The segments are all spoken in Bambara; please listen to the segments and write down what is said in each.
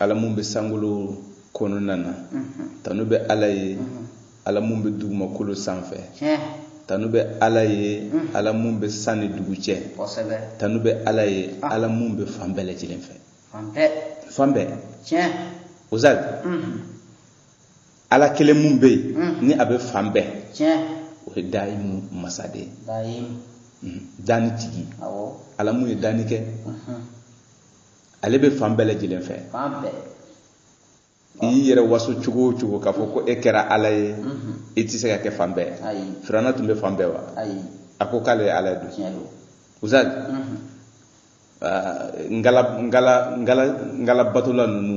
ala mun bɛ sankolo kɔnɔna na tanu bɛ ala ye ala mun bɛ dugumakolo sanfɛ tanu bɛ ala ye ala mun bɛ san ni dugu cɛ tanu bɛ ala ye ala mun bɛ fan bɛɛ lajɛlen fɛ fan bɛɛ ustaz ala kelen mun bɛ yen ni a bɛ fan bɛɛ o ye dayimu masa de danni tigi ala mun ye danni kɛ ale bɛ fan bɛɛ lajɛlen fɛ fan bɛɛ i y'i yɛrɛ waso cogo o cogo k'a fɔ ko e kɛra ala ye i tɛ se ka kɛ fan bɛɛ firawuna tun bɛ fan bɛɛ wa a ko k'ale ye ala ye don ustaz ngala ngala ngala ngala batola ninnu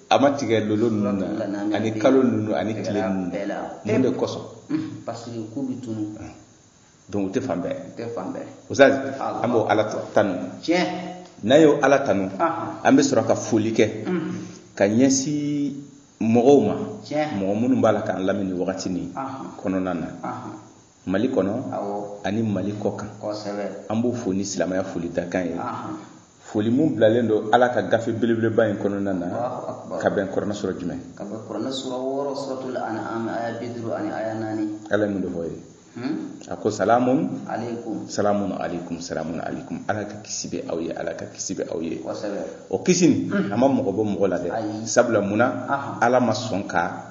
a ma tigɛ lolo ninnu na ani kalo ninnu ani tile ninnu mun de kosɔn parce que k'u bɛ tunu donc u tɛ fan bɛɛ tɛ fan bɛɛ ustaz an b'o ala tanu tiɲɛ n'an y'o ala tanu an bɛ sɔrɔ ka foli kɛ ka ɲɛsin mɔgɔw ma mɔgɔ minnu b'a la k'an lamɛn nin wagati nin kɔnɔna na mali kɔnɔ ani mali kɔkan an b'u fo ni silamaya foli dakan ye foli min bilalen don ala ka gafe belebeleba in kɔnɔna na ka bɛn kuranɛ sura jumɛn ala ye mun de fɔ yen a ko salamu salamu aleykum salamu aleykum ala ka kisi bɛ aw ye ala ka kisi bɛ aw ye o kisi nin a ma mɔgɔ bɔ mɔgɔ la dɛ sabula mun na ala ma sɔn ka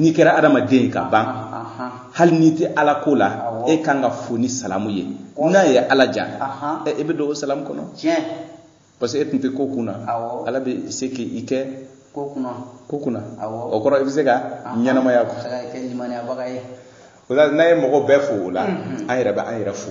n'i kɛra adamaden ye ka ban hali n'i tɛ ala ko la e kan ka fo ni salamu ye n'a ye ala diya e bɛ don o salamu kɔnɔ parce que e tun tɛ ko kunna ala bɛ se k'i kɛ ko kunna ko kunna o kɔrɔ i bɛ se ka ɲɛnamaya quoi o la n'an ye mɔgɔ bɛɛ fo o la an yɛrɛ bɛ an yɛrɛ fo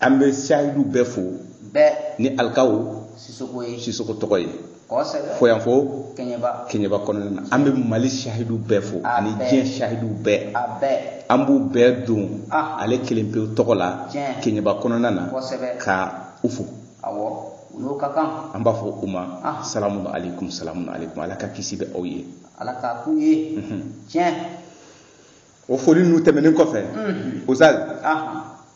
an bɛ sahidu bɛɛ fo bɛɛ ni alikaw sisoko ye sisoko tɔgɔ ye kosɛbɛ fo yan fo kɛɲɛba kɛɲɛba kɔnɔna na an bɛ mali sahidu bɛɛ fo A ani bɛɛ. diɲɛ sahidu bɛɛ a bɛɛ an b'u bɛɛ don Ah. ale kelen pewu tɔgɔ la Tiɲɛ. kɛɲɛba kɔnɔna na Kosɛbɛ. ka u fo awɔ u n'o ka kan an b'a fɔ u ma Ah. salamu aleykum salamu aleykum ala ka kisi bɛ aw ye ala k'a k'u ye tiɲɛ o foli ninnu tɛmɛnen kɔfɛ Mhm. ustaz ahan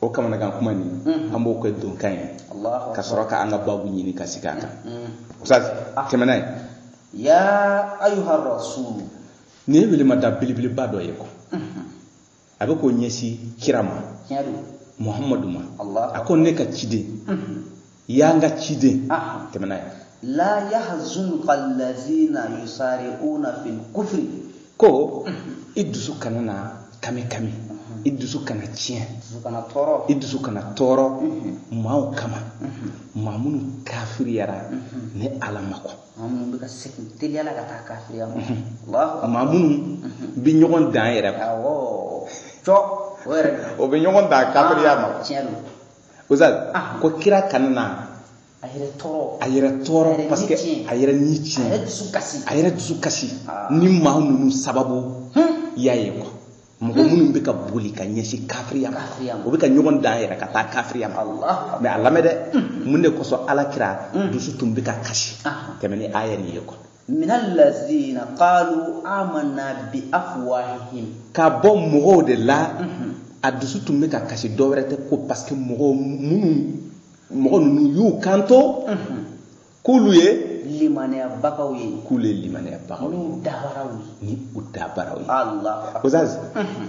o kamanagan kuma nin an b'o kɛ donkan ye ka sɔrɔ ka an ka babu ɲini ka sigi a kan ustaz tɛmɛna ye ya ayuha rasul nin ye welemada belebeleba dɔ ye quoi a bɛ k'o ɲɛsin kira ma muhamadu ma a ko ne ka ciden ya n ka ciden tɛmɛna ye la yahzunka allazina yusari'una fil kufri ko i dusu kana na kami kami i dusu kana tiɲɛ i dusu kana tɔɔrɔ maaw kama maa minnu kafiriyara ne ala ma ko maa minnu bɛ ɲɔgɔn dan yɛrɛ ma o bɛ ɲɔgɔn dan kafiriya ma Ustaz, ah. ko kira kana na a yɛrɛ tɔɔrɔ a yɛrɛ tɔɔrɔ parce que a yɛrɛ ni tiɲɛ a yɛrɛ dusu kasi a yɛrɛ dusu kasi ah. ni maa ninnu sababu hmm? y'a ye quoi mɔgɔ hmm. minnu bɛ ka boli ka ɲɛsin kafiriya ma o bɛ ka ɲɔgɔn dan yɛrɛ ka taa kafiriya ma mais a lamɛn dɛ hmm. mun de kosɔn ala kira dusu tun bɛ ka kasi ah. tɛmɛ ni aya nin ye quoi min allazina qalu amanna bi afwahihim ka bɔ mɔgɔw de la mhm. a dusu tun bɛ ka kasi dɔ wɛrɛ tɛ ko parce que mɔgɔw minnu mɔgɔ ninnu y'u kanto mhm. k'olu ye limaniyabagaw ye k'olu ye limaniyabagaw ye n'u dabaraw ye ni u dabaraw ye ala ustaz mhm.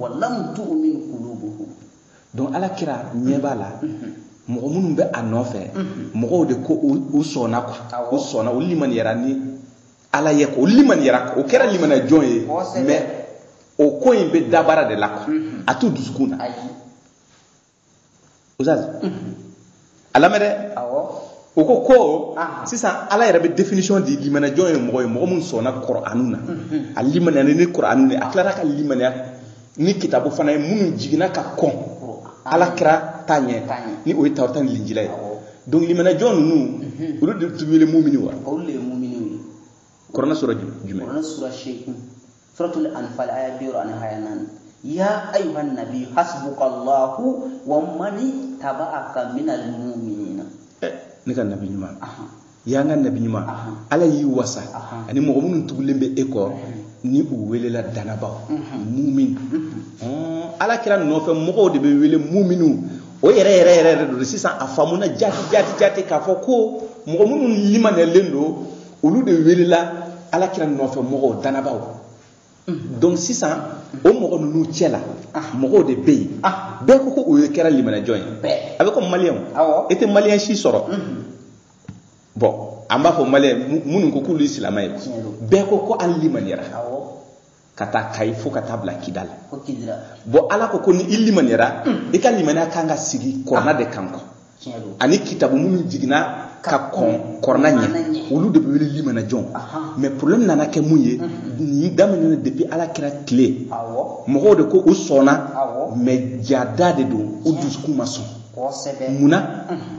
walam tu'min qulubuhum donc ala kira ɲɛ b'a la mɔgɔ minnu bɛ a nɔfɛ mɔgɔw de ko u sɔnna quoi u sɔnna u limaniyara ni ala ye ko u limaniyara o kɛra limaniya jɔn ye mais o ko in bɛ dabara de la quoi a t'u dusukun na ustaz a lamɛn dɛ o ko ko sisan ala yɛrɛ bɛ définition di limaniyajɔn ye mɔgɔ ye mɔgɔ min sɔnna kuranu na a limaniyara ni kuranu ye a tilara ka limaniya ni kitabu fana ye minnu jiginna ka kɔn ala kira ta ɲɛ ni o ye tawurata ni linjila ye donc limaniyajɔn ninnu olu de tun wele mumini wa olu de ye mumini kuranɛ sura jumɛn kuranɛ sura seegin suratul anfal aya bi wɔɔrɔ ani aya naani ya ayuha nabi hasbuka allahu wa mani tabaaka minal muminina eh, ne ka nabi ɲuman ya n ka nabi ɲuman ala y'i wasa ani mɔgɔ minnu tugulen bɛ e kɔ ni u welela danabaw mumin ala kira nɔfɛ mɔgɔw de bɛ wele muminu o yɛrɛ yɛrɛ yɛrɛ de don sisan a faamuna jati jati jati k'a fɔ ko mɔgɔ minnu limaniyalen don olu de welela ala kira nɔfɛ mɔgɔw danabaaw mhm. donc sisan o mɔgɔ ninnu cɛ la ah. mɔgɔw de bɛ yen ah. bɛɛ ko ko o ye kɛra limaniyajɔn ye a bɛ ko maliyɛnw e tɛ maliyɛn si sɔrɔ mhm. bon an b'a fɔ maliyɛn minnu ko k'olu ye silamɛ ye bɛɛ ko ko an limaniyara k'a ta kayi fo ka taa bila kidali bon ala ko ko ni i limaniyara hmm. i ka limaniya kan ka sigi kuranɛ de kan quoi ani kitabu minnu jiginna ka kɔn kuranɛ ɲɛ olu de bɛ wele limanajɔn mais problème nana kɛ mun ye hmm. nin daminɛna depuis ala kira tile mɔgɔw de ko u sɔnna mais jaa da de don u dusukun ma sɔn munna hmm.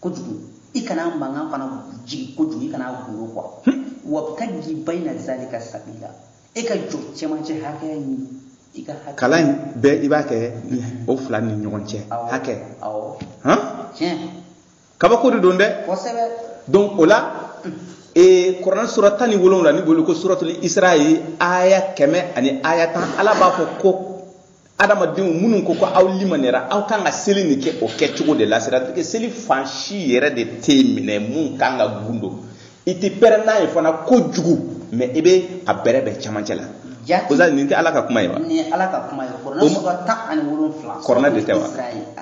kojugu i kana mankan fana jigin kojugu i kana gundo quoi wabtagi bayna zalika sabila e ka jɔ cɛmancɛ hakɛya ɲini i ka hakɛ kalan in bɛɛ i b'a kɛ o fila ni ɲɔgɔn cɛ hakɛ awɔ han tiɲɛ kabako de don dɛ kosɛbɛ donc o la ee kuranɛ sura tan ni wolonwula n'i b'o wele ko suratul isra ye aya kɛmɛ ani aya tan ala b'a fɔ ko adamadenw minnu ko ko aw limaniyara aw kan ka seli nin kɛ o kɛcogo de la c'est-à-dire que seli fan si yɛrɛ de tɛ minɛ mun kan ka gundo i tɛ pɛrɛn n'a ye fana kojugu mais i bɛ a bɛrɛbɛn cɛmancɛ la o la nin tɛ ala ka kuma ye wa nin ye ala ka kuma ye kuranɛ sura tan ani wolonfila kuranɛ de tɛ wa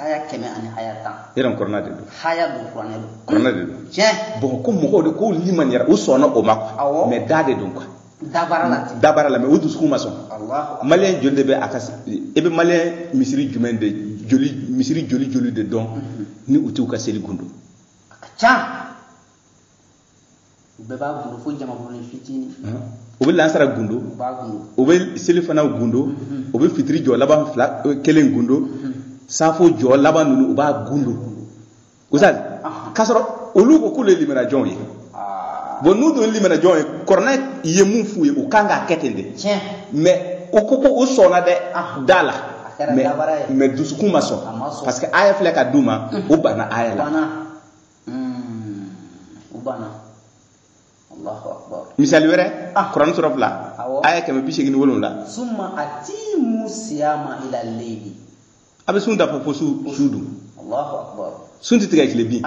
aya kɛmɛ ani aya tan yɛrɛ kuranɛ de don aya don kuranɛ don kuranɛ de don tiɲɛ bon ko mɔgɔw de ko limaniyara u sɔnna o ma quoi mais da de don quoi dabara la ten dabara la mais u dusukun ma sɔn Allahu maliyɛn joli de bɛ a ka s- e bɛ maliyɛn misiri jumɛn de joli misiri joli joli de dɔn ni u t'u ka seli gundo a ka ca u bɛɛ b'a gundo fo jamakulunin fitinin u bɛ lansara gundo u b'a gundo u bɛ selifana gundo u bɛ fitiri jɔ laban fila eh, kelen gundo safo jɔ laban ninnu u b'a gundo Ousseyn k'a sɔrɔ olu ko k'olu ye limanajɔnw ye bon n'u dun ye limanajɔnw ye kuranɛ ye mun f'u ye u kan k'a kɛ ten de mais u ko ko u sɔnna dɛ da la mais dusukun ma sɔn parce que aya filɛ ka d'u ma u banna aya la misali wɛrɛ kuranɛ sura fila aya kɛmɛ bi seegin ni wolonwula a bɛ sun dafa fo su su dun sun tɛ tigɛ tile bin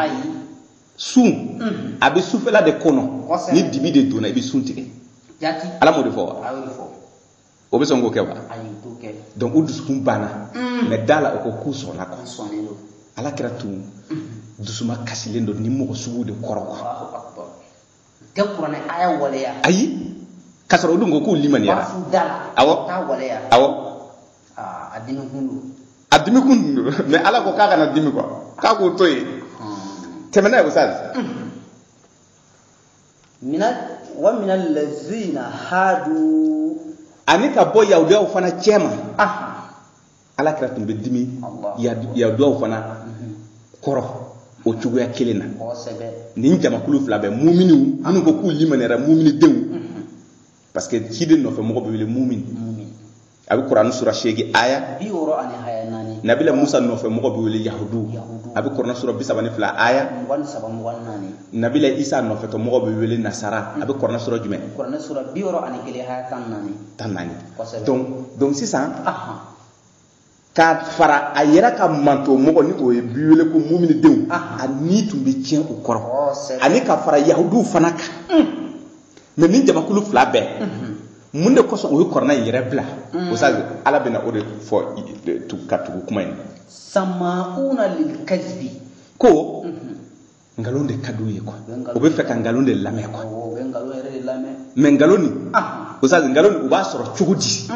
sun a bɛ sufɛla de kɔnɔ ni dibi de donna i bɛ sun tigɛ ala m'o de fɔ wa u bɛ sɔn k'o kɛ wa donc u dusukun banna mm. mais da la u ko k'u sɔnna quoi ala kira tun dusu makasilen don nin mɔgɔ sugu de kɔrɔ quoi tɛ kuranɛ aya waleya ayi k'a sɔrɔ u dun ko k'u limaniyara awɔ awɔ ah, a dimikun don a dimikun don mais ala ko k'a kana dimi quoi k'a k'o to yen hmm. tɛmɛ n'a ye ustaz wa mina lazina hadu ani ka bɔ yahudiyaw fana cɛma ala kira tun bɛ dimi yahudiyaw fana kɔrɔ o cogoya kelen na nin jamakulu fila bɛ muminiw minnu ko k'u limaniyara mumini denw parce que ciden nɔfɛ mɔgɔ bɛ wele mumini a bɛ kurani sura seegin aya nabila musa nɔfɛ mɔgɔ bɛ wele yahudu a bɛ kurani sura bi saba ni fila aya nabila isa nɔfɛ mɔgɔ bɛ wele nasara a bɛ kurani sura jumɛn tan ni naani donc sisan ka fara a yɛrɛ ka mantɔn mɔgɔ ni o ye bi wele ko muminidenw a ni tun bɛ tiɲɛ u kɔrɔ ani ka fara yahuduw fana kan mais nin jamakulu fila bɛɛ mun de kosɔn u ye kuranɛ in yɛrɛ bila ustaz ala bɛna o de fɔ ka tugu kuma in na samauna lilkazibi ko nkalon de ka d'u ye quoi u bɛ fɛ ka nkalon de lamɛn quoi mais nkalon nin ustazi nkalon nin u b'a sɔrɔ cogo di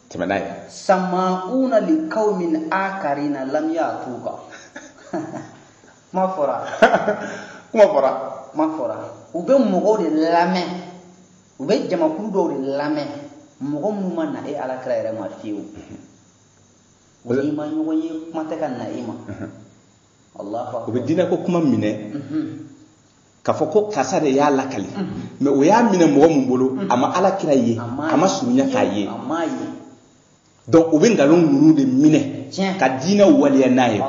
tɛmɛ n'a ye samauna likawmin akarina lam yatuka kuma fɔra u bɛ mɔgɔw de lamɛn u bɛ jamakulu dɔw de lamɛn mɔgɔ minnu ma na e alakira yɛrɛ ma fiyewu n'i ma ɲɔgɔn ye kuma tɛ ka na i ma o bɛ diinɛ ko kuma minɛ k'a fɔ ko karisa de y'a lakali mais o y'a minɛ mɔgɔ min bolo a ma ala kira ye a ma surunya k'a ye donc u bɛ nkalon ninnu de minɛ ka diinɛ waleya n'a ye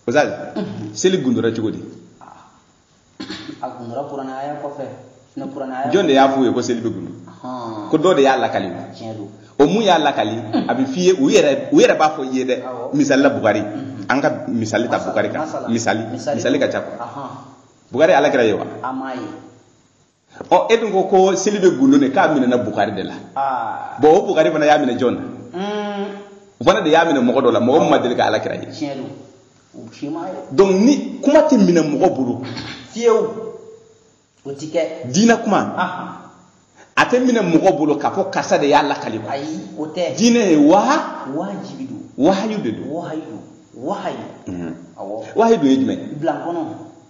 ustazi seli gundura cogo di a gundura kuranɛ aya kɔfɛ ne kuranɛ aya jɔn de y'a f'u ye ko seli bɛ gundu ko dɔ de y'a lakali o mun y'a lakali a bɛ f'i ye u yɛrɛ u yɛrɛ b'a fɔ i ye dɛ misali la bukari mhm. an ka misali ta bukari kan misali misali ka ca quoi bukari alakira ye wa ɔ e dun ko ko seli bɛ gundo ne k'a minɛna bukari de la ah. bon o bukari fana y'a minɛ jɔn na hmm. o fana de y'a minɛ mɔgɔ dɔ la mɔgɔ min ma deli ka ala kira ye donc nin kuma tɛ minɛ mɔgɔ bolo fiyewu o tɛ kɛ diinɛ kuma a tɛ minɛ mɔgɔ bolo k'a fɔ karisa de y'a lakali quoi ayi o tɛ diinɛ ye waha wajibi don wahayu de don wahayu awɔ wahayu don ye jumɛn bilankɔnɔ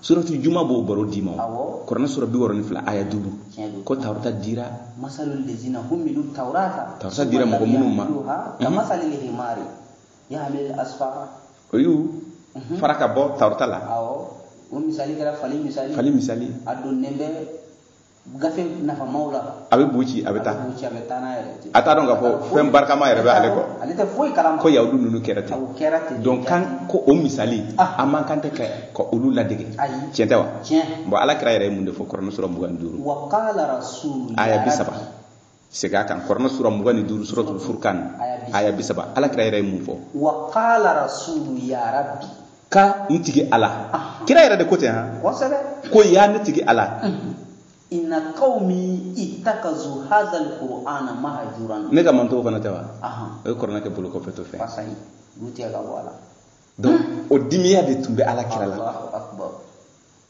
suratu juma b'o baro d'i ma o kuranɛ sura bi wɔɔrɔ ni fila aya duuru ko tawurata dira tawurata dira mɔgɔ minnu ma o y'u mhm. fara ka bɔ tawurata la fali misali a donnen bɛ gafe nafamaw la a bɛ bu ci a bɛ taa bu ci a bɛ taa n'a yɛrɛ ten a t'a dɔn k'a fɔ fɛn barikama yɛrɛ bɛ ale kɔ ale tɛ foyi kalama ko yahudu ninnu kɛra ten o kɛra ten donc an ko o misali ah. an man kan tɛ ka olu ladege ayi tiɲɛ tɛ wa tiɲɛ bon ala kira yɛrɛ ye mun de fɔ kuranɛ sura mugan ni duuru wa kala rasul aya bi saba segin a kan kɔrɔna sura mugan ni duuru suratul furkan aya bi saba ala kira yɛrɛ ye mun fɔ wa qala rasulu ya rabbi ko n tigi ala kira yɛrɛ de ko ten han kosɛbɛ ko ya ne tigi ala inna qawmi ittakazu hadha alqur'ana mahjuran ne ka mantɔnw fana tɛ wa o ye kɔrɔna kɛ bolo kɔfɛ to fɛ fasahi olu tigɛ ka bɔ a la donc o dimiya de tun bɛ ala kira la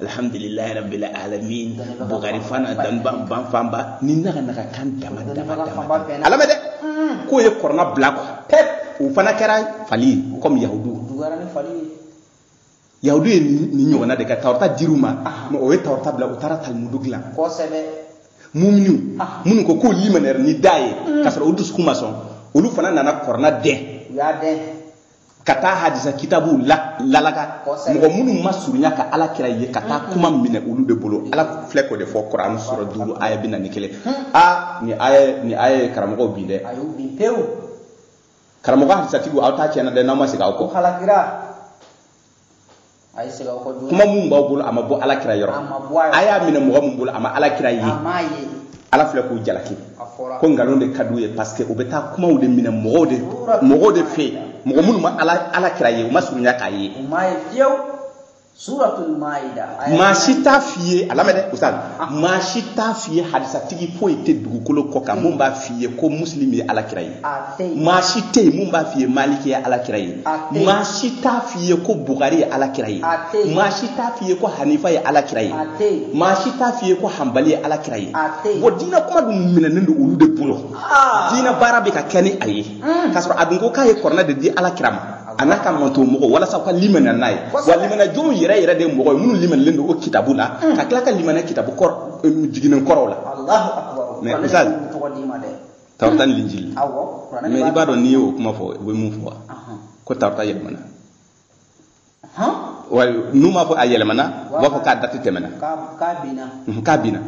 alhamdulilayi rabbil alamin bugari fana danban ban fanba ni naga naga kan dama dama dama a lamɛn dɛ k'u ye kɔrɔna bila kɔ pewu o fana kɛra fali ye kɔmi yahudu yahudu ye nin ɲɔgɔnna de kɛ tawrata dir'u ma mɛ u ye tawrata bila u taara talimudu dilan kosɛbɛ muminiw minnu ko k'u limanara ni da ye k'a sɔrɔ u dusukun ma sɔn olu fana nana kɔrɔna dɛn u y'a dɛn ka taa hadisa kitabu lalaka mɔgɔ minnu ma surunya ka ala kira ye ka taa kuma minɛ olu de bolo ala filɛ k'o de fɔ kɔrɔna sura duuru aya bi naani ni kelen a nin aya nin aya ye karamɔgɔw bin dɛ karamɔgɔ hadisatigiw aw ta tiɲɛna dɛ n'aw ma segin aw kɔ kuma mun b'aw bolo a ma bɔ ala kira yɔrɔ a y'a minɛ mɔgɔ mun bolo a ma ala kira ye ala filɛ k'u jalaki ko nkalon de ka d'u ye parce que u bɛ taa kumaw de minɛ mɔgɔw de fɛ mɔgɔ minnu ma ala kira ye u ma surunya k'a ye maa si t'a f'i ye a lamɛn dɛ ustaz maa si t'a f'i ye hadisatigi foyi tɛ dugukolo kɔ kan mun b'a f'i ye ko muslim ye ala kira ye maa si tɛ yen mun b'a f'i ye maliki ye alakira ye maa si t'a f'i ye ko bugari ye alakira ye maa si t'a f'i ye ko hanifa ye alakira ye maa si t'a f'i ye ko hanbali ye alakira ye wa diinɛ kuma dun minɛnen don olu de bolo ah. diinɛ baara bɛ ka kɛ ni a ye hmm. k'a sɔrɔ a dun ko k'a ye kɔrɔna de di alakira ma a n'a ka mantɔn mɔgɔw walasa u ka limana n'a ye wa limanajɔnw yɛrɛ yɛrɛ de mɔgɔ ye minnu limanalen don o kitabu la hmm. ka tila ka limana kitabu kɔrɔ eh, jiginnen kɔrɔw la mɛ misali tawrata ni linjili mɛ i b'a dɔn n'i y'o kuma fɔ u bɛ mun fɔ wa ko tawrata yɛlɛmana n'u m'a fɔ a yɛlɛmana u b'a fɔ k'a dati tɛmɛna k'a binna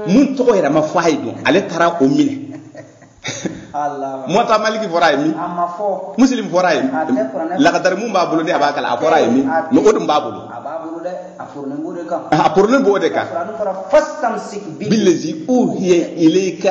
mun tɔgɔ yɛrɛ ma fɔ a ye dun ale taara o minɛ muwata maliki fɔr'a ye min muslim fɔr'a ye lakadari mun b'a bolo de a b'a kalan a fɔr'a ye min mɛ o dun b'a bolo a poronen b'o de kan billazi uhiya ilayika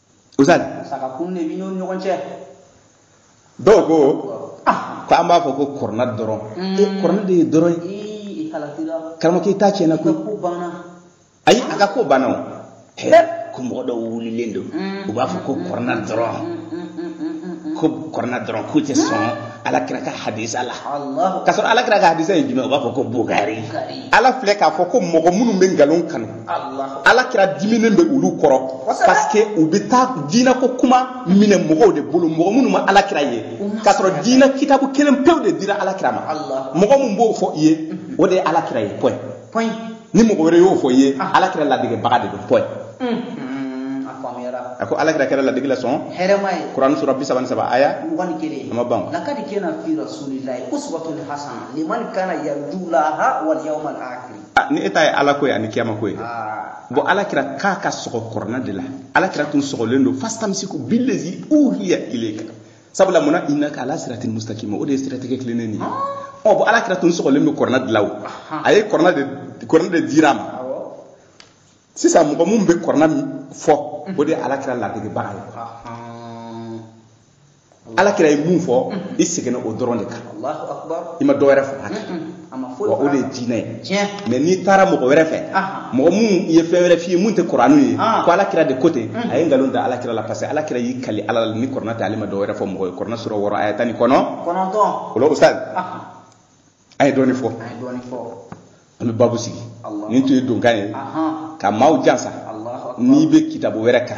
ustaz saka kun de b'i n'o ɲɔgɔn cɛ dɔw ko ah. ko an b'a fɔ ko kɔrɔna dɔrɔn mm. e kɔrɔna de ye dɔrɔn ye karamɔgɔkɛ i ta tiɲɛna koyi ayi a ka ko banna o ko mɔgɔ dɔw wulilen don mm. u b'a fɔ ko kɔrɔna dɔrɔn mm, ko kɔrɔna dɔrɔn k'u tɛ sɔn ala kira ka hadisa la k'a sɔrɔ ala kira ka hadisa ye jumɛn u b'a fɔ ko bugari ala filɛ k'a fɔ ko mɔgɔ minnu bɛ nkalon kanu ala kira diminen bɛ olu kɔrɔ parce que u bɛ taa diinɛ ko kuma minɛ mɔgɔw de bolo mɔgɔ minnu ma ala kira ye k'a sɔrɔ diinɛ kitabu kelen pewu de dira ala kira ma mɔgɔ min b'o fɔ i ye o de ye ala kira ye point ni mɔgɔ wɛrɛ y'o fɔ i ye ala kira ladegebaga de don point a ko ala kira kɛra ladege la sɔn hɛrɛma ye kurani sura bi saba ni saba aya mugan ni kelen a ma ban lakadi kana fi rasulillahi uswatun hasana liman kana yarjulaha walyawmal akhir Ah, ni e ta ye ala ko ye ani kiyama ko ye dɛ ah. bon ala kira k'a ka sɔgɔ kɔrɔna de la ala kira tun sɔgɔlen don fastamsiku billazi uhiya ilayka sabula mun na innaka ala siratin mustaqim o de ye siratigɛ tilennen nin ye ah. ɔ bon ala kira tun sɔgɔlen don kɔrɔna de la o a ye kɔrɔna de kɔrɔna de dira a ma sisan mɔgɔ mun bɛ kɔrɔna fɔ o de ye ala kira ladegebaga ye ala kira ye mun fɔ i seginna o dɔrɔn de kan i ma dɔ wɛrɛ fara a kan wa o de ye diinɛ ye mais n'i taara mɔgɔ wɛrɛ fɛ mɔgɔ mun ye fɛn wɛrɛ f'i ye mun tɛ kuranu ye ko ala kira de ko ten a ye nkalon da ala kira la parce que ala kira y'i kali ala la ni kɔrɔna tɛ ale ma dɔ wɛrɛ fɔ mɔgɔ ye kɔrɔna sura wɔɔrɔ aya tan ni kɔnɔntɔn o la ustaz a ye dɔɔni fɔ an bɛ babu sigi nin tun ye donkan ye ka maaw jansa n'i bɛ kitabu wɛrɛ kan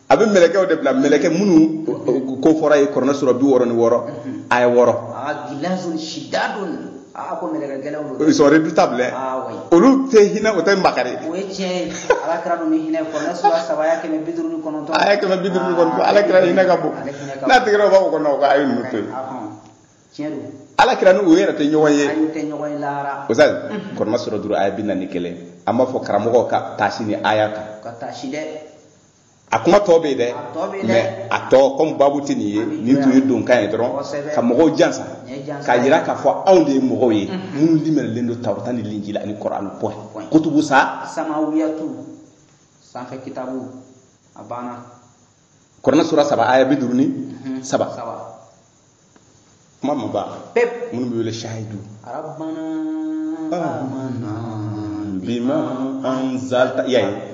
a bɛ mɛlɛkɛw de bila mɛlɛkɛ minnu ko fɔra ye kɔrɔnɛ sura bi wɔɔrɔ ni wɔɔrɔ aya wɔɔrɔ gilazun shidadun ko mɛlɛkɛ gɛlɛnw don sont redoutables olu tɛ hinɛ u tɛ makari o ye tiɲɛ ye ala kira ninnu bɛ hinɛ kɔrɔnɛ sura saba aya kɛmɛ bi duuru ni kɔnɔntɔn aya kɛmɛ bi duuru ni kɔnɔntɔn ala kira hinɛ ka bon n'a tigɛra o b'a fɔ ko non ko a ye ninnu to yen tiɲɛ don ala kira ni o yɛrɛ tɛ ɲɔgɔn ye o sa kɔrɔnɛ sura duuru aya bi naani ni kelen an b'a fɔ karamɔgɔ ka taasi nin aya kan ka taasi dɛ a kuma tɔ bɛ yen dɛ mais a tɔ kɔmi babu tɛ nin ye nin tun ye donkan ye dɔrɔn ka mɔgɔw jansa k'a jira k'a fɔ anw de ye mɔgɔw ye minnu limaniyalen don tawurata ni linjila ani kɔrɔani point kutubu sa samawiyatu sanfɛ kitabu a banna kɔrɔna sura saba aya bi duuru ni mhm. saba kuma ma ban peuple minnu bɛ wele shahidu rabbana ah. amanna bima anzalta yayi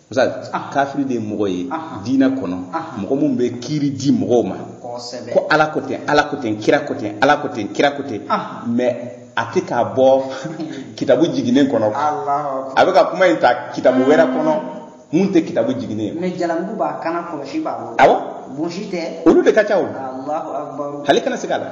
misali ah. kafiri de ye mɔgɔ ye diinɛ kɔnɔ mɔgɔ min bɛ kiiri di mɔgɔw ma ko ala ko ten ala ko ten kira ko ten ala ko ten kira ko ten mais a tɛ k'a bɔ kitabu jiginnen kɔnɔ a bɛ ka kuma in ta kitabu wɛrɛ kɔnɔ mun tɛ kitabu jiginnen ye. mais jalamugu b'a kan na kɔlɔsi b'a bolo. awɔ. bonsi tɛ. olu de ka ca o. alahu akubaru. hali i kana siga a la.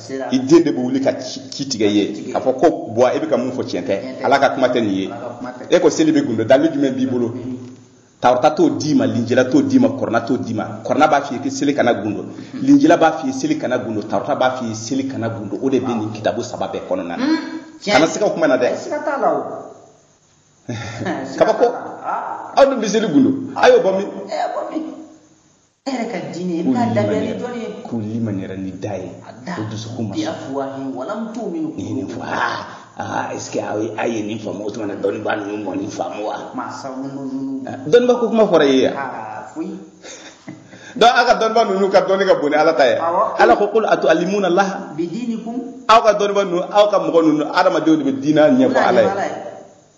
i den de bɛ wuli ka ci tigɛ i ye k'a fɔ ko bɔn e bɛ ka mun fɔ tiɲɛ tɛ ala ka kuma tɛ nin ye e ko seli bɛ gundo dalu jumɛn b'i bolo tawurata t'o d'i ma linjila t'o d'i ma kɔrɔna t'o d'i ma kɔrɔna b'a f'i ye ko seli kana gundo linjila b'a f'i ye seli kana gundo tawurata b'a f'i ye seli kana gundo o de bɛ nin kitabu saba bɛɛ kɔnɔna na kana siga o kuma na dɛ kabako aw dun bɛ seli gundo a y'o bɔ min e yɛrɛ ka diinɛ i b'a labɛn ni dɔnni ye k'u limaniyara ni da ye ko dusukun ma sɔn walam tumini nin fɔ aa est ce que aw ye a ye nin faamu o tuma na dɔnnibaa ninnu ma nin faamu wa dɔnniba ko kuma fɔra ye yan donc aw ka dɔnniba ninnu ka dɔnni ka bon ni ala ta ye ala ko kul atualimuna laha aw ka dɔnniba ninnu aw ka mɔgɔ ninnu adamadenw de bɛ diinɛ ɲɛfɔ ala ye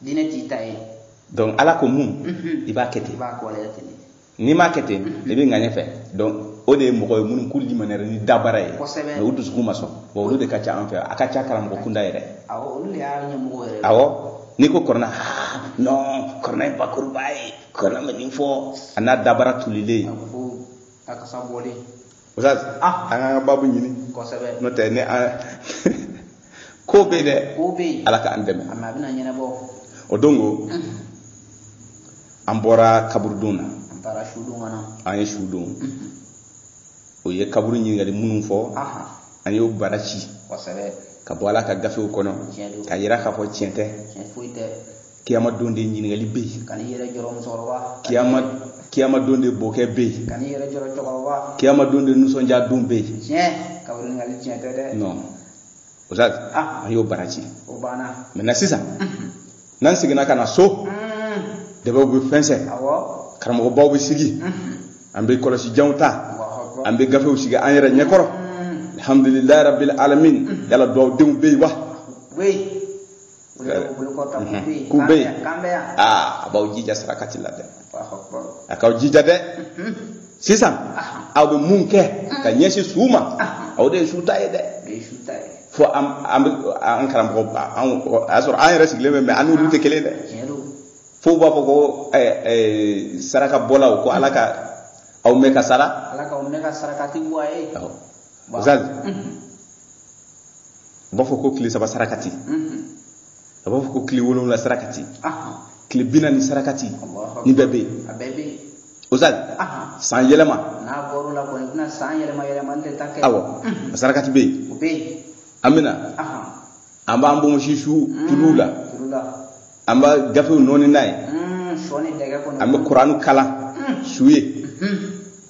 diinɛ t'i ta ye donc ala ko mun mhm. i b'a kɛ ten n'i m'a kɛ ten mhm. i bɛ ŋaɲɛ fɛ donc o de ye mɔgɔ ye minnu k'u limaniyara ni dabara ye mɛ u dusukun ma sɔn bon olu de ka ca an fɛ a ka ca karamɔgɔ kunda yɛrɛ awɔ n'i ko kɔrɔna non kɔrɔna ye bakuruba ye kɔrɔna bɛ nin fɔ a n'a dabara tolilen usitazi an k'an ka babu ɲini n'o tɛ ne an ko bɛ yen dɛ ala k'an dɛmɛ o don ko an bɔra kaburudon na an ye su don o ye kaburu ɲininkali minnu fɔ an y'o bara ci ka bɔ ala ka gafew kɔnɔ ka yira k'a fɔ tiɲɛ tɛ kiyama don de ɲininkali bɛ yen kan'i yɛrɛ jɔrɔ musokɔrɔba kiyama kiyama don de bɔkɛ bɛ yen kan'i yɛrɛ jɔrɔ cɛkɔrɔba kiyama don de nisɔndiya don bɛ yen tiɲɛ kaburu ɲininkali tiɲɛ tɛ dɛ non usitazi an y'o bara ci o banna mɛ na sisan n'an seginna ka na so dɛbɛw bɛ fɛnsɛ karamɔgɔbaw bɛ sigi an bɛ kɔlɔsi janw ta an bɛ gafew sigi an yɛrɛ ɲɛkɔrɔ alhamdulilayi rabil alamin yala duwawudenw bɛ yen wa k'u bɛ yen aa a b'aw jija sarakati la dɛ a k'aw jija dɛ sisan aw bɛ mun kɛ ka ɲɛsin su ma aw de ye su ta ye dɛ fo an bɛ an karamɔgɔ a y'a sɔrɔ an yɛrɛ sigilen bɛ mɛ an n'olu tɛ kelen dɛ fo u b'a fɔ ko saraka bɔlaw ko ala ka aw mɛn ka sara ala ka aw mɛn ka sarakati bɔ a ye a b'a fɔ ko tile saba sarakati a b'a fɔ ko tile wolonwula sarakati tile bi naani sarakati nin bɛɛ bɛ yen usitazi san yɛlɛma awɔ a sarakati bɛ yen an bɛna an b'an bonbonsi su tulu la an bɛ gafew nɔɔni n'a ye an bɛ kuranu kalan su ye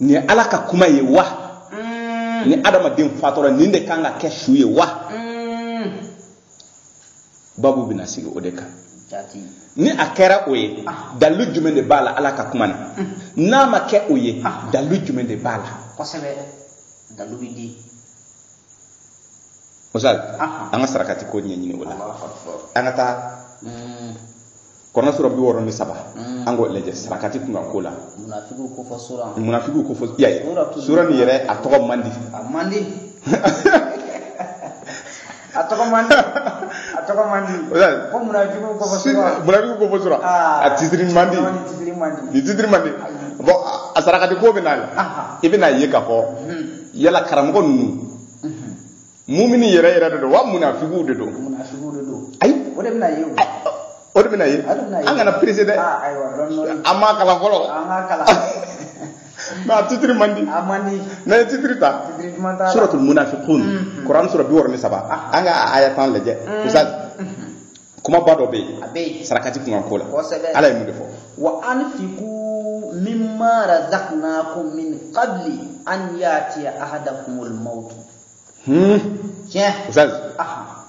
nin ye ala ka kuma ye wa mm. ni adamaden fatura nin de kan ka kɛ su ye wa mm. babu bɛna sigi o de kan ni a kɛra o ye ah. dalilu jumɛn de b'a la ala ka kuma na mm. n'a ma kɛ o ye ah. dalilu jumɛn de b'a la kosɛbɛ dalilu bɛ di misali ah. an ka sarakati ko ɲɛɲini o la an ka taa kuran sura bi wɔɔrɔ ni saba mm. an k'o lajɛ sarakati kunkan ko la munafigiw ko fɔ sura munafigiw ko fɔ y'a ye sura nin yɛrɛ a tɔgɔ man di a man di a tɔgɔ man di a tɔgɔ man di ko munafigiw ko fɔ sura munafigiw ko fɔ sura ah. a titiri man di ni titiri man di bɔn a sarakati ko bɛ na i bɛna ye k'a fɔ hmm. yala karamɔgɔ ninnu mumini yɛrɛ yɛrɛ de don wa munafigiw de don munafigiw de don ayi o de bɛna ye o o de bɛna ye an kana perese dɛ ah, an m'a kalan fɔlɔ an k'a kalan mɛ a titiri man di a man di n'a ye titiri ta suratul munafiqun mm, mm. kuran sura bi wɔɔrɔ ni saba ah. an ka aya tan lajɛ mm. ustaz kumaba dɔ bɛ yen sarakati kunkan ko la ala ye mun de fɔ wa anfiku mimma razaqnakum min qabli an yatiya ahadakumul mautu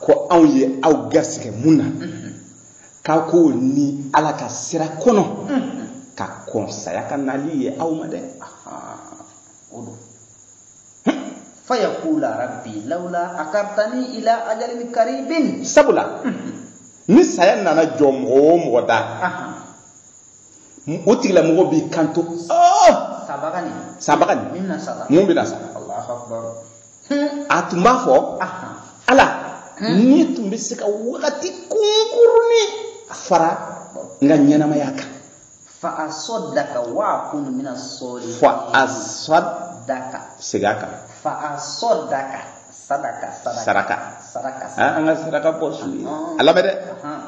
ko anw ye aw garisɛgɛ mun na k'aw k'o ni ala ka sira kɔnɔ ka kɔn saya ka nali ye aw ma dɛ o don fayakula rabbi lawla akartani ila ajalin karibin sabula ni saya nana jɔ mɔgɔ o mɔgɔ da o tigilamɔgɔ b'i kanto sabaga nin sabaga nin min bɛna sa mun bɛna sa a tun b'a fɔ ala n'i tun bɛ se ka wagati kunkurunin fara n ka ɲɛnamaya kan fa asaddaka wa akun mina salihin fa asaddaka segin a kan fa asaddaka saraka saraka saraka ah, an ka saraka bɔ su ye a lamɛn dɛ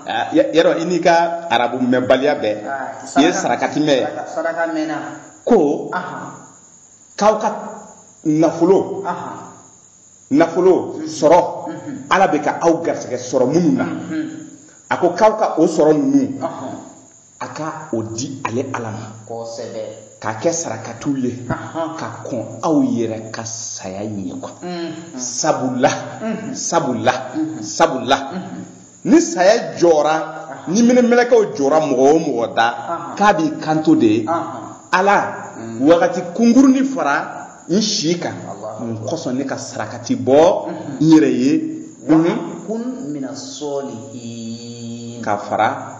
ah, yɛrɛ i n'i ka arabu mɛnbaliya bɛɛ ah, i ye sarakati mɛn ye ko k'aw ka nafolo nafolo mhm. sɔrɔ mhm. ala bɛ ka aw garisɛgɛ sɔrɔ minnu na mhm. a ko k'aw ka o sɔrɔ ninnu a ka o di ale ala ma kosɛbɛ k'a kɛ sarakatiw ye ka kɔn aw yɛrɛ ka saya ɲɛ ko sabula sabula sabula ni saya jɔra ni minɛmɛlɛkɛw jɔra mɔgɔ o mɔgɔ da k'a b'i kanto de ye ala wagati kunkurunin fara n si kan kosɔn ne ka sarakati bɔ n yɛrɛ ye kun mina salihin ka fara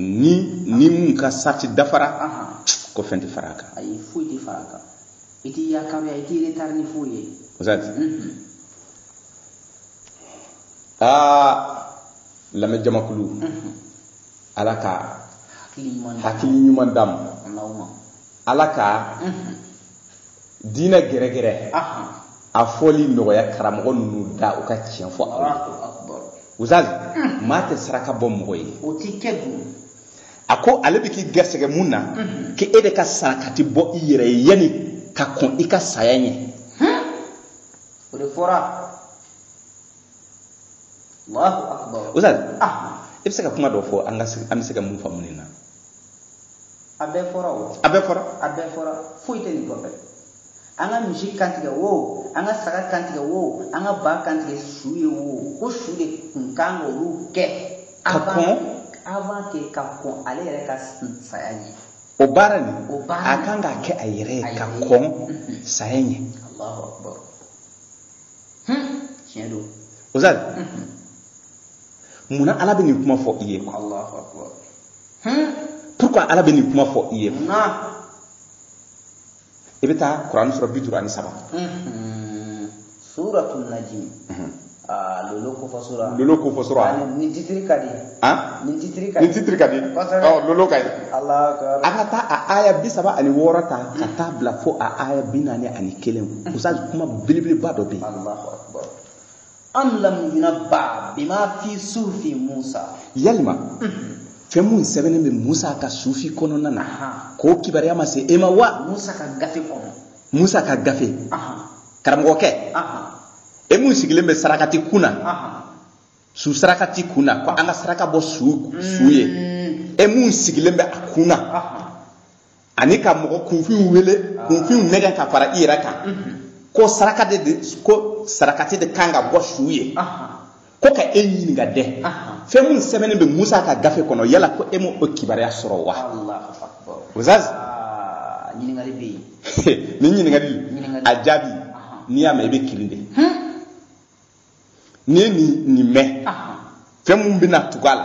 ni ni mun ka sarati dafara ko fɛn tɛ fara a kan ayi foyi tɛ fara a kan i t'i yakaruya i t'i retarder ni foyi ye ustazi aa lamɛn jamakulu ala ka hakili ɲuman d'a ma ala ka diinɛ gɛrɛgɛrɛ a fɔli nɔgɔya karamɔgɔ ninnu da u ka tiɲɛ fɔ aw ye ustazi hmm. maa tɛ saraka bɔ mɔgɔ ye o tɛ kɛ dun a ko ale bɛ k'i garisɛgɛ mun na hmm. k'e de ka sarakati bɔ i yɛrɛ ye yanni ka kɔn i ka saya ɲɛ hmm. o de fɔra ustazi ah. i bɛ se ka kuma dɔ fɔ an bɛ se ka mun faamu nin na a bɛɛ fɔra o a bɛɛ fɔra a bɛɛ fɔra foyi tɛ nin kɔfɛ an ka misi kantigɛ wo an ka saga kantigɛ wo an ka ba kantigɛ su ye wo ko su de kun kan k'olu kɛ ka kɔn avant que ka kɔn ale yɛrɛ ka saya ɲɛ o baara nin a kan k'a kɛ a yɛrɛ ye ka kɔn mhm. saya ɲɛ tiɲɛ don ustazi mhm. munna ala bɛ nin kuma fɔ i ye pourquoi ala bɛ nin kuma fɔ i ye i bɛ taa kuran sura bi duuru ani saba suratu najim lolo kofɔ sura lolo kofɔ sura nin titiri ka di nin titiri ka di nin titiri ka di lolo ka di an ka taa a aya bi saba ani wɔɔrɔ ta ka taa bila fo a aya bi naani ani kelen ustazi kuma belebeleba dɔ bɛ yen Am lam yunabba bima fi sufi musa yalima fɛn mun sɛbɛnnen bɛ musa ka sufi kɔnɔna na k'o kibaruya ma se e ma wa musa ka gafe kɔnɔ musa ka gafe karamɔgɔkɛ e mun sigilen bɛ sarakati kun na su sarakati kun na ko an ka saraka bɔ su ye e mun sigilen bɛ a kun na ani ka mɔgɔ kunfinw wele ah. kunfinw nɛgɛ ka fara i yɛrɛ kan mhm. ko saraka de ko sarakati de kan ka bɔ su ye ko ka e ɲininka dɛ fɛn mun sɛbɛnnen bɛ musa ka gafe kɔnɔ yala ko e ma o kibaruya sɔrɔ wa ustazi ah, nin ɲininkali a jaabi n'i y'a mɛn i bɛ kirin de hmm? n'i ye nin mɛn fɛn mun bɛna tugu a la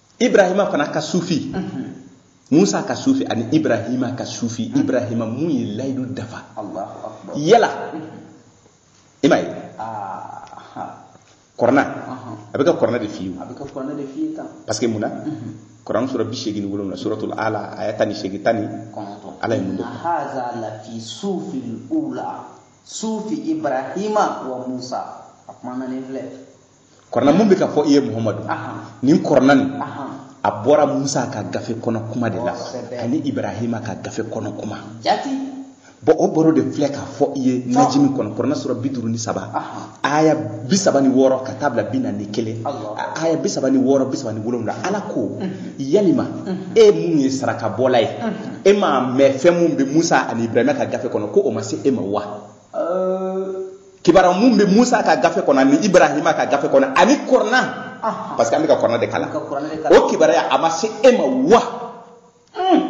ibrahima fana ka sufi musa ka sufi ani ibrahima ka sufi ibrahima mun ye layidu dafa yala i m'a ye kuran a bɛ ka kuran de f'i ye parce que mun na kuran sura bi seegin ni wolonwula suratul ala aya tan ni seegin tan ni ala ye mun de sufi ibrahima wa musa a kumana ni filɛ kurana mun bɛ k'a fɔ i ye muhamadu nin kurana nin a bɔra musa ka gafe kɔnɔ kuma de la ani ibrahima ka gafe kɔnɔ kuma bon o baro de filɛ k'a fɔ i ye najimi kɔnɔ kuran sura bi duuru ni saba aya bi saba ni wɔɔrɔ ka taa bila bi naani ni kelen aya bi saba ni wɔɔrɔ bi saba ni wolonwula ala ko yalima e mun ye sarakabɔla ye e m'a mɛn fɛn mun bɛ musa ani ibrahima ka gafe kɔnɔ ko o ma se e ma wa kibaruya mun bɛ musa ka gafe kɔnɔ ani ibrahima ka gafe kɔnɔ ani kurana parce que an bɛ ka kurana de kalan o kibaruya a ma se e ma wa hmm.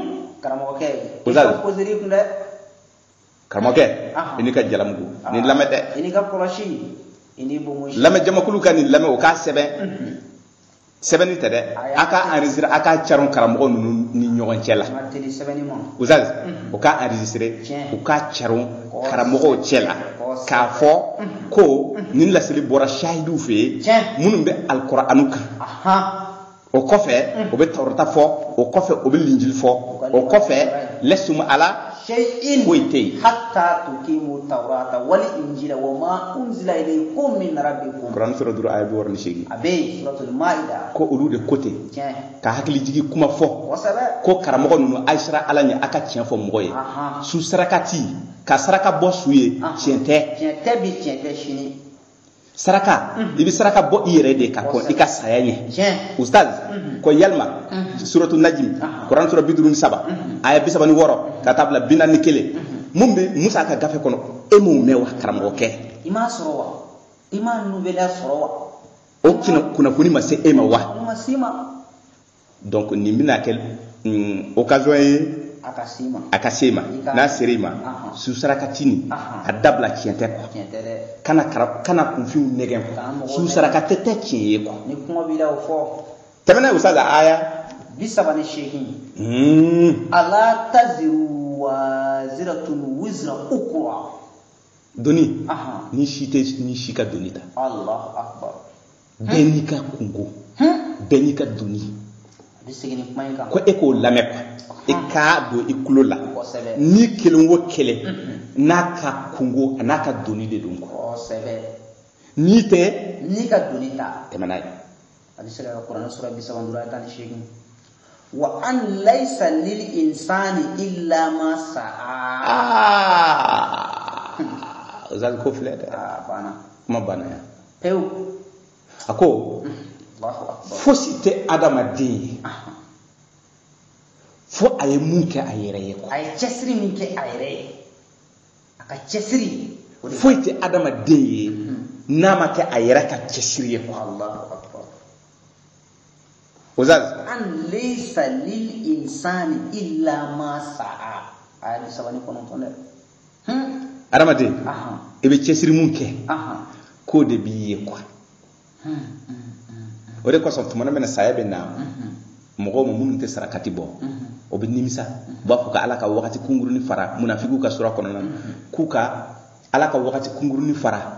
karamɔgɔkɛ poseri kun dɛ karamɔgɔkɛ i n'i ka jalamugu nin lamɛn dɛ i n'i ka kɔlɔsi i n'i bonbonsi lamɛn jamakulu ka nin lamɛn o k'a sɛbɛn mhm. sɛbɛnni tɛ dɛ a k'a enregistré a k'a caron karamɔgɔ ninnu ni ɲɔgɔn cɛ la ustaz u k'a enregistré u k'a caron karamɔgɔw cɛ la k'a fɔ ko nin laseli bɔra sahidiw fɛ minnu bɛ alikɔrɔanu kan o kɔfɛ o bɛ tawurata fɔ o kɔfɛ o bɛ linjili fɔ o kɔfɛ lastum ala shay'in foyi tɛ yen hatta tuqimu tawrata wal injila wa ma unzila ilaykum min rabbikum kuran sura duru aya bi wɔɔrɔ ni seegin a bɛ yen suratul maida ko olu de ko ten tiɲɛ ka hakili jigi kuma fɔ kosɛbɛ ko karamɔgɔ ninnu a ye siran ala ɲɛ a ka tiɲɛ fɔ mɔgɔ ye Ahan. su sarakati ka saraka bɔ su ye Ahan. tiɲɛ tɛ tiɲɛ tɛ bi tiɲɛ tɛ sini saraka i bɛ saraka bɔ i yɛrɛ de ka kɔn i ka saya ɲɛ ustaz ko yalima suratu najimi kuran sura bi duuru ni saba aya bi saba ni wɔɔrɔ ka taa bila bi naani ni kelen mun bɛ musa ka gafe kɔnɔ e m'o mɛn wa karamɔgɔkɛ i m'a sɔrɔ wa i m'a nouvelle sɔrɔ wa o kunnafoni ma se e ma wa ma se ma donc nin bɛna kɛ mm, occasion ye a ka se ma a ka se ma n'a sera i ma su sarakati nin a dabila tiɲɛ tɛ quoi kana kana kunfinw nɛgɛn quoi su sarakati tɛ tiɲɛ ye quoi ni kuma b'i la o fɔ tɛmɛna usa la aya bi saba ni seegin hmm. ala taziru waziratun wizra ukura doni ni si tɛ ni si ka doni ta alahu akbar bɛɛ n'i ka kunko bɛɛ n'i ka doni ko e k'o lamɛn quoi e k'a don i tulo la ni kelen o kelen n'a ka kunko a n'a ka doni de don quoi ni tɛ ni ka doni ta tɛmɛ n'a ye a bɛ se ka kuranɛ sura bi saba ni duuru tan ni seegin wa an laisa lil insani illa ma sa'a Ustaz ko filɛ dɛ ah, banna kuma banna yan pewu a ko fosi tɛ adamaden ye fo a ye mun kɛ a yɛrɛ ye a ye cɛsiri min kɛ a yɛrɛ ye a ka cɛsiri foyi tɛ adamaden ye mhm. n'a ma kɛ a yɛrɛ ka cɛsiri ye Ustaz. An laysa lil insani illa ma sa'a. Aya bi saba ni kɔnɔntɔn dɛ. Hmm. Adamaden. Aha. I bɛ cɛsiri mun kɛ. Aha. K'o de b'i ye quoi. Hmm. hmm. O de kosɔn tuma min na saya bɛ na mɔgɔw ma minnu tɛ sarakati bɔ o bɛ nimisa u b'a fɔ ka ala ka wagati kunkurunin fara munafikiw ka sura kɔnɔna k'u ka ala ka wagati kunkurunin fara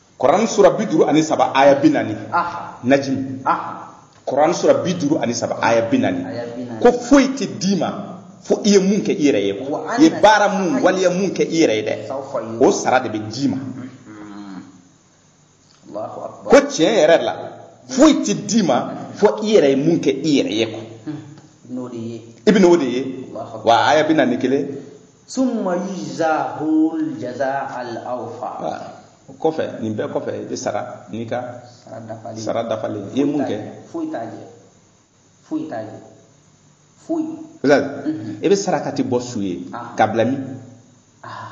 kuran sura bi duuru ani saba aya bi naani najimi kuran sura bi duuru ani saba aya bi naani ko foyi tɛ d'i ma fo i ye mun kɛ i yɛrɛ ye i ye baara mun waleya mun kɛ i yɛrɛ ye dɛ o sara de bɛ d'i ma ko tiɲɛ yɛrɛ la foyi tɛ d'i ma fo i yɛrɛ ye mun kɛ i yɛrɛ ye quoi i bɛn'o de ye wa aya bi naani kelen summa yujzahul jazaa'al awfa o kɔfɛ nin bɛɛ kɔfɛ i bɛ sara n'i ka sara dafalen i ye mun kɛ foyi t'a jɛ foyi t'a jɛ foyi i bɛ sarakati bɔ su ye ah. ka bila min ah.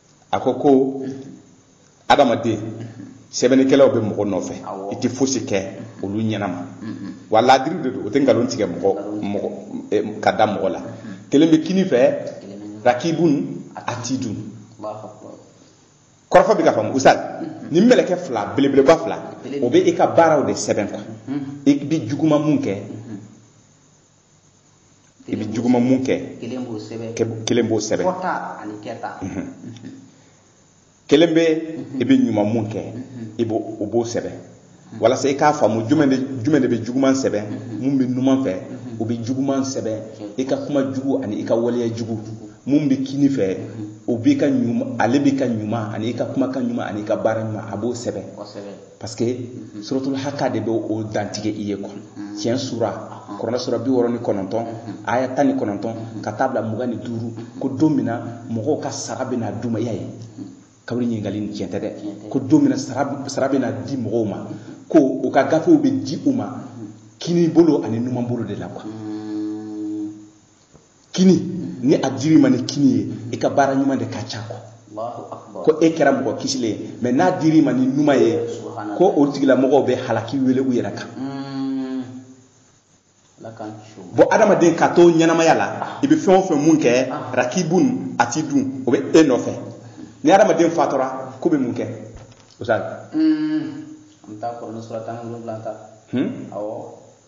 a ko ko adamaden sɛbɛnnikɛlaw bɛ mɔgɔ nɔfɛ i tɛ fosi kɛ olu ɲɛnama wa laadiri de don o tɛ nkalon tigɛ mɔgɔ mɔgɔ eh, ka da mɔgɔ la kelen bɛ kini fɛ rakibun atidun kɔrɔ fɔ bɛɛ k'a faamu ustaz nin mɛlɛkɛ fila belebeleba fila o bɛ i ka baaraw de sɛbɛn quoi i bɛ juguman mun kɛ i bɛ juguman mun kɛ kelen b'o sɛbɛn kelen b'o sɛbɛn fɔta ani kɛta mhm. kelen bɛ mhm. i bɛ ɲuman mun kɛ mhm. i b'o o b'o sɛbɛn walasa i k'a faamu jumɛn de jumɛn de bɛ juguman sɛbɛn mun bɛ numan fɛ o bɛ juguman sɛbɛn i ka kuma jugu ani i ka waleya jugu mun bɛ kini fɛ o b'i ka ɲuman ale b'i ka ɲuman ani i ka kumakan ɲuman ani i ka baara ɲuman a b'o sɛbɛn parce que suratul haka de bɛ o dantigɛ i ye quoi tiɲɛ sura kuranɛ sura bi wɔɔrɔ ni kɔnɔntɔn aya tan ni kɔnɔntɔn ka taa bila mugan ni duuru ko don min na mɔgɔw ka sara bɛna d'u ma i y'a ye kaburu ɲininkali nin tiɲɛ tɛ dɛ ko don min na sara bɛna di mɔgɔw ma ko u ka gafew bɛ di u ma kini bolo ani numan bolo de la quoi kini ni a dir'i ma ni kini ye i ka baara ɲuman de ka ca quoi ko e kɛra mɔgɔ kisilen ye mais n'a dir'i ma ni numan ye ko o tigilamɔgɔw bɛ halaki wele u yɛrɛ kan hmm. bon adamaden ka to ɲɛnamaya la i bɛ fɛn o fɛn mun kɛ ah. rakibun atidun o bɛ e nɔfɛ ni adamaden fatura k'u bɛ mun kɛ o sa hmm. an bɛ taa kuranɛ sura tan ni wolonwula ta hmm? awɔ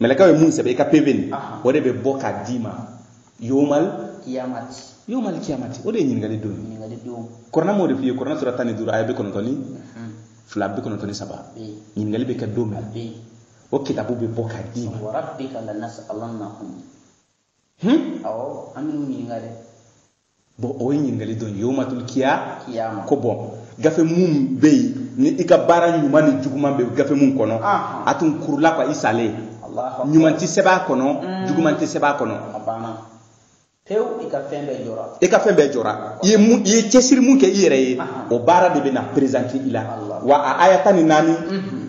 mɛlɛkaw ye mun sɛbɛn i ka PV nin o de bɛ bɔ k'a d'i ma yomal kiyamati yomal kiyamati o de ye ɲininkali don kuranɛ m'o de f'i ye kuranɛ sura tan ni duuru aya bi kɔnɔntɔn ni mhm. fila bi kɔnɔntɔn ni saba ɲininkali bɛ kɛ don min o kitabu bɛ bɔ k'a d'i ma hmm? bon o ye ɲininkali don ye yomatul kiyama ko bon gafe mun bɛ yen ni i ka baara ɲuman ni juguman bɛ gafe mun kɔnɔ a tun kurula quoi i salen ɲuman tɛ sɛbɛn a kɔnɔ mm. juguman tɛ sɛbɛn a kɔnɔ pewu i ka fɛn bɛɛ jɔra i ka fɛn bɛɛ jɔra i ye mun i ye cɛsiri mun kɛ i yɛrɛ ye o baara de bɛ na présenter i la wa a aya tan ni naani mm-hmm.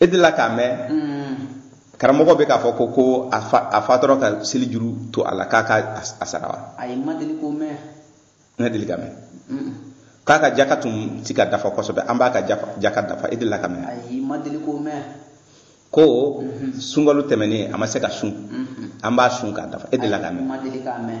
e delila k'a mɛn mm. karamɔgɔ bɛ k'a fɔ ko ko a fatura ka seli juru to a la k'a ka a sara wa ayi ma deli k'o mɛn n ka deli k'a mɛn k'a ka jaka tun ti ka dafa kosɛbɛ an b'a ka jaka dafa e delila k'a mɛn ayi ma deli k'o mɛn ko mhm. sunkalo tɛmɛnen a ma se ka sun mhm. an b'a sun k'a dafa e delila k'a mɛn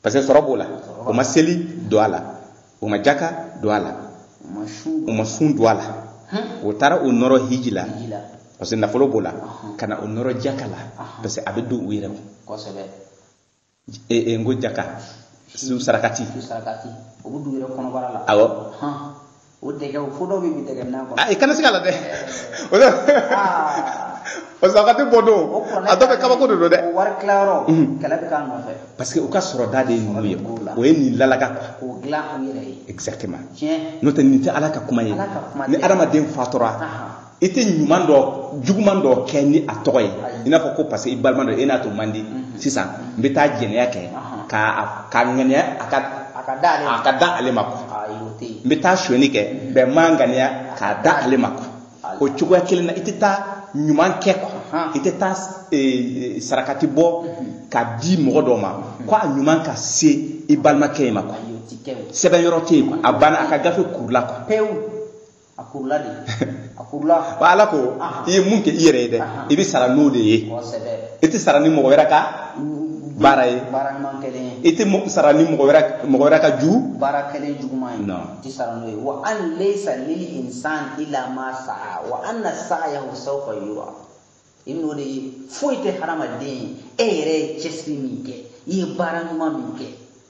parce que sɔrɔ b'o la o ma seli don a la o ma jaka don a la o ma sun don a la o taara o nɔrɔ hiji la parce que nafolo b'o la ka na o nɔrɔ jaka la parce que a bɛ don u yɛrɛ kun e, e, n ko jaka su sarakati awɔ o dɛgɛ o ko dɔ bɛ bi dɛgɛ nan kɔnɔ. a i kana siga a la dɛ. o sarakati bɔ don a tɔ bɛɛ kabako de don dɛ. o wari tilayɔrɔ. kɛlɛ bɛ k'a nɔfɛ. parce que u ka sɔrɔda de ye ninnu ye o ye nin lalaga quoi. k'o dilan u yɛrɛ ye. exactement. tiɲɛ. n'o tɛ nin tɛ ala ka kuma ye. ala ka kuma tɛ. ni adamaden fatura. i tɛ ɲuman dɔ juguman dɔ kɛ ni a tɔgɔ ye i n'a fɔ ko parce que i balima dɔ e n'a to man di mhm. sisan n bɛ taa jɛnɛya kɛ ka k'a ŋaniya a ka a ka da ale ma a ka da ale ma quoi n bɛ taa sonyani kɛ mhm. bɛ n'a ŋaniya k'a da ale ma quoi o cogoya kelen na i tɛ taa ɲuman kɛ quoi i tɛ taa e, e, sarakati bɔ mhm. k'a di mɔgɔ dɔ ma ko a ɲuman ka se i balimakɛ in ma quoi sɛbɛn yɔrɔ tɛ yen quoi a banna a ka gafe kurula quoi pewu. a kurula de a kurula wa ala ko i ye mun kɛ i yɛrɛ ye dɛ i bɛ sara n'o de ye i tɛ sara ni mɔgɔ wɛrɛ ka baara ye baara ɲuman kɛlen ye i tɛ sara ni mɔgɔ wɛrɛ mɔgɔ wɛrɛ ka ju baara kɛlen juguman ye i tɛ sara n'o ye wa an laysa lil insan illa ma sa'a wa anna sa'yahu sawfa yura i bɛ n'o de ye foyi tɛ hadamaden ye e yɛrɛ ye cɛsiri min kɛ i ye baara ɲuman min kɛ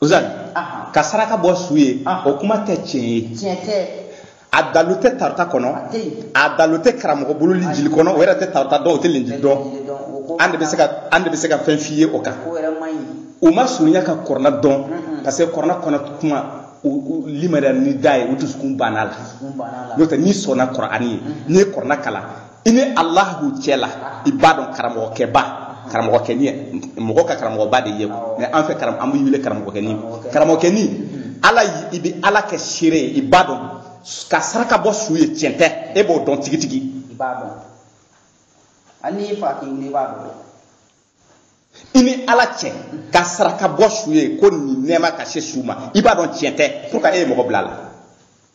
uzali ka saraka bɔ su ye o kuma tɛ tiɲɛ ye tiɲɛ tɛ a dalu tɛ tarata kɔnɔ a dalu tɛ karamɔgɔ bolo linjili kɔnɔ o yɛrɛ tɛ tarata dɔn o tɛ linjili dɔn an de bɛ se ka an de bɛ se ka fɛn f'i ye o kan u ma surunya ka kɔrɔna dɔn parce que kɔrɔna kɔnɔ kuma u limaniya ni da ye u dusukun banna a la n'o tɛ n'i sɔnna kɔrɔani ye n'i ye kɔrɔna kalan i ni alahu cɛ la i b'a dɔn karamɔgɔkɛba karamɔgɔkɛni mɔgɔ ka karamɔgɔba de ye mais an fɛ an b'i wele karamɔgɔkɛni karamɔgɔkɛni ala i bɛ ala kɛ seere ye i b'a dɔn ka saraka bɔ su ye tiɲɛ tɛ e b'o dɔn tigitigi i b'a dɔn hali n'i fa k'i wuli i b'a dɔn i ni ala cɛ ka saraka bɔ su ye ko nin nɛɛma ka se su ma i b'a dɔn tiɲɛ tɛ pour que e ye mɔgɔ bila a la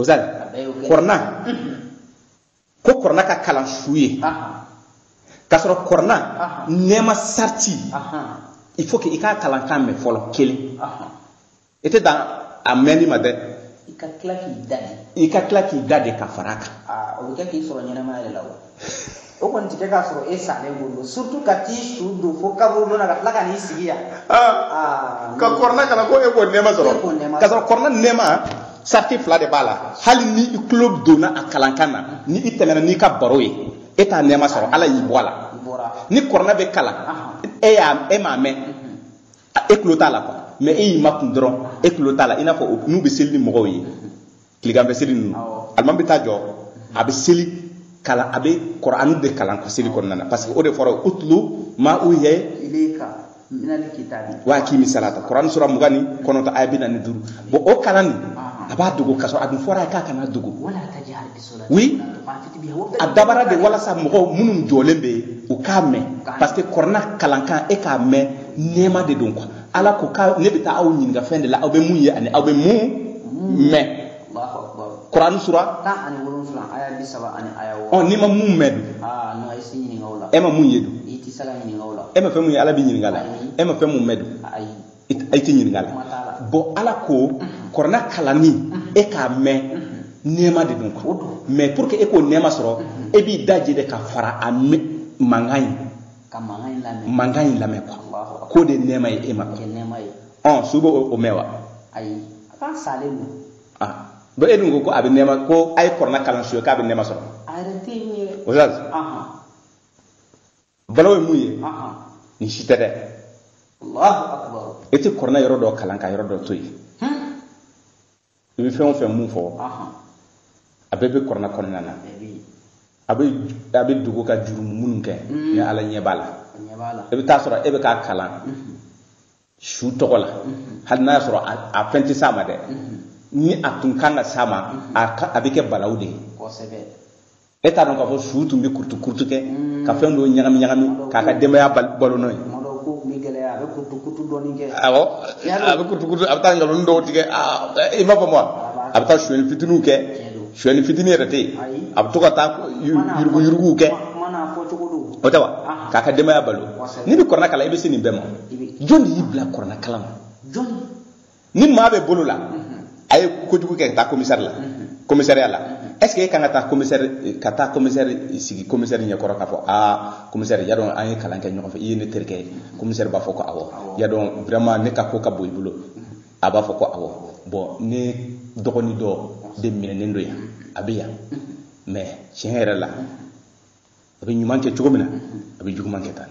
ozan kɔrɔna ko kɔrɔna ka kalan su ye k'a sɔrɔ kɔrɔna nɛɛma sariti il faut que i k'a kalankan mɛn fɔlɔ kelen i tɛ dan a mɛnni ma dɛ i ka tila k'i da de i ka tila k'i da de ka fara a kan o bɛ kɛ k'i sɔrɔ ɲɛnamaya yɛrɛ la wa o kɔni tɛ kɛ k'a sɔrɔ e salen don don surtout ka t'i su don fo kaburu nɔ na ka tila ka n'i sigi yan ah, ka kɔrɔna kalan ko e k'o nɛɛma sɔrɔ ka sɔrɔ kɔrɔna nɛɛma sariti fila de b'a la hali ni i tulo bɛ don a kalankan na ni i tɛmɛna n'i ka baro ye e t'a nɛɛma sɔrɔ ala y'i bɔ a la ni kɔrɔna bɛ kalan e y'a e m'a mɛn e tulo t'a la quoi mais e y'i makun dɔrɔn e tulo t'a la i n'a fɔ n'u bɛ seli ni mɔgɔw ye tileganfɛ seli ninnu alimami bɛ taa jɔ a bɛ seli kalan a bɛ kɔrɔani de kalan ka seli kɔnɔna na parce que o de fɔra utlu ma uhiya wa akimi salata kɔrɔani sura mugan ni kɔnɔntɔn aya bi naani ni duuru bon o kalanni a b'a dogo ka sɔrɔ a dun fɔra a ye k'a kana dogo oui a dabɔra de walasa mɔgɔw minnu jɔlen bɛ yen u k'a mɛn parce que kɔrɔna kalankan e k'a mɛn nɛɛma de don quoi ala ko ka ne bɛ taa aw ɲininka fɛn de la aw bɛ mun ye ani aw bɛ mun mɛn kurani sura ɔ n'i ma mun mɛn dun e ma mun ye dun e ma fɛn mun ye ala b'i ɲininka la e ma fɛn mun mɛn dun i tɛ ɲininka la bon ala ko kɔrɔna kalanni e k'a mɛn nɛɛma de don quoi mais pour que e k'o nɛɛma sɔrɔ e b'i daje de ka fara a mankan ye ka mankan in lamɛn mankan in lamɛn quoi Alahu akbar. k'o de nɛɛma ye e ma kɛ nɛɛma ye ɔn su bɛ o o mɛn wa ayi a k'a salen don ah bon e dun ko ko a bɛ nɛɛma ko a ye kɔrɔna kalan su ye k'a bɛ nɛɛma sɔrɔ a yɛrɛ tɛ yen ye o la ahan balawu ye mun ye ahan nin si tɛ dɛ Alahu akbar e tɛ kɔrɔna yɔrɔ dɔ kalan ka yɔrɔ dɔ to yen Hmm. i bɛ fɛn o fɛn mun fɔ a bɛɛ bɛ kɔrɔna kɔnɔna na a bɛ a bɛ dogo ka jurumu minnu kɛ mm. ni ala ɲɛ b'a la i bɛ t'a sɔrɔ e bɛ k'a kalan mm-hmm. su tɔgɔ la mm-hmm. hali n'a y'a sɔrɔ a fɛn tɛ s'a ma dɛ mm-hmm. ni a tun kan ka s'a ma a bɛ kɛ balawu de ye e t'a dɔn k'a fɔ su tun bɛ kurutu kurutu kɛ ka fɛn dɔw ɲagami ɲagami k'a ka denbaya balo n'o ye a bɛ kurutu kurutu dɔɔni kɛ awɔ a bɛ kurutu kurutu a bɛ taa nkalon dɔw tigɛ i m'a faamu a bɛ taa sonyɛli fitiniw kɛ sonyɛli fitini yɛrɛ tɛ yen a bɛ to ka taa yurugu yuruguw kɛ o tɛ wa k'a ka denbaya balo n'i bɛ kɔrɔna kalan i bɛ se nin bɛɛ ma jɔn de y'i bila kɔrɔna kalan na jɔn ni maa b'e bolo la a ye kojugu kɛ ka taa komisari la komisariya la est ce que e kan ka taa komisɛri ka taa komisɛri sigi komisɛri ɲɛkɔrɔ k'a fɔ aa komisɛri i y'a dɔn an ye kalan kɛ ɲɔgɔn fɛ i ye ne terikɛ ye komisɛri b'a fɔ ko awɔ i y'a dɔn vraiment ne ka ko ka bon i bolo a b'a fɔ ko awɔ bon ne dɔgɔnin dɔ de minɛnen don yan a bɛ yan mais tiɲɛ yɛrɛ la a bɛ ɲuman kɛ cogo min na a bɛ juguman kɛ tan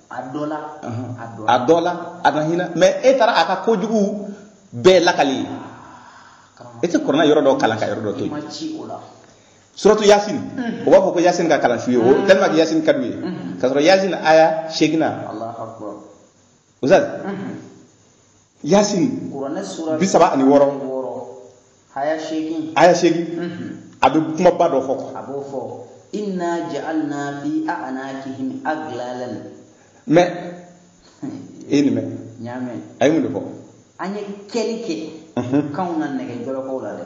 a dɔ la a dɔ la a na hinɛ mais e taara a ka kojugu bɛɛ lakali ye e tɛ kɔrɔna yɔrɔ dɔ kalan ka yɔrɔ dɔ to yen suratu yasin o b'a fɔ ko yasin ka kalan su ye o tellement que yasin ka d'u ye k'a sɔrɔ yasin aya seeginnan ustaz yasin kuranɛ sura bi saba ani wɔɔrɔ wɔɔrɔ aya seegin aya seegin a bɛ kumaba dɔ fɔ a b'o fɔ inna ja'alna fi a'nakihim aglalan mais e ye nin mɛn n y'a mɛn a ye mun de fɔ an ye kɛli kɛ kanw na nɛgɛ jɔlɔkɔw la dɛ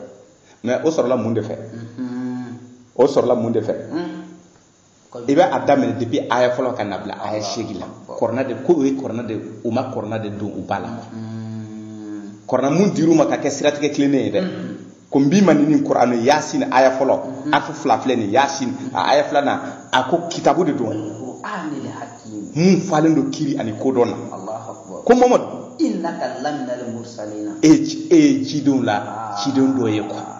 mais o sɔrɔla mun de fɛ Mhm. o sɔrɔla mun de fɛ Mm. i bɛ a daminɛ depuis aya fɔlɔ ka na bila aya seegin la kɔrɔna de ko ye kɔrɔna de u ma kɔrɔna de don u ba la kɔrɔna mun dir'u ma ka kɛ siratigɛ tilennen ye dɛ ko n b'i ma ni nin kɔrɔna ye yasin aya fɔlɔ harafu fila filɛ nin yasin a aya filanan a ko kitabu de don mun falen don kiiri ani kodɔn na ko mamadu e ye cidenw la ciden dɔ ye quoi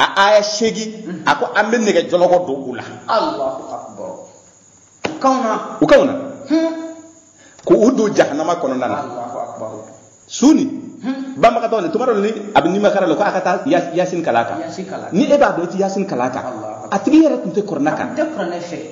a aya seegin a ko an bɛ nɛgɛ jɔlɔkɔ don u la u kanw na u kanw na ko u don jahanama kɔnɔna na su ni banabagatɔ ni tuma dɔ ni a bɛ nimakaran la ko a ka taa yasin kalan a kan ni e b'a dɔn i tɛ yasin kalan a kan a tigi yɛrɛ tun tɛ kɔrɔna kan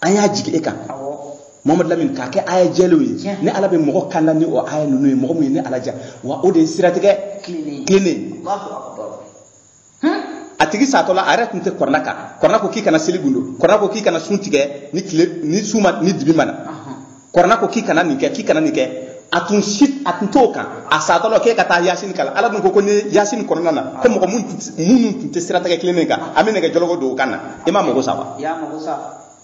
an y'a jigin e kan mamadu lamini k'a kɛ aya jɛlenw ye ni ala bɛ mɔgɔ kanda ni o aya ninnu ye mɔgɔ min ye ni ala ja wa o de ye siratigɛ tilennen a tigi satɔ la a yɛrɛ tun tɛ kurana kan kurana ko k'i kana seli gundo kurana ko k'i kana sun tigɛ ni tile ni su ma ni dibi ma na kurana ko k'i kana nin kɛ k'i kana nin kɛ a tun si a tun t'o kan a satɔ la k'e ka taa yasin kalan ala dun ko ko ni yasin kɔnɔna na ko mɔgɔ minnu tun tɛ siratigɛ tilennen kan an bɛ nɛgɛ jɔlɔkɔ don o kan na i ma mago sa wa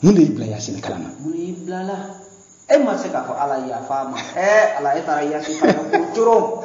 mun de y'i bila yasin kalan na e ma se k'a fɔ ala yafa ma ala e taara yasin kalan ko coron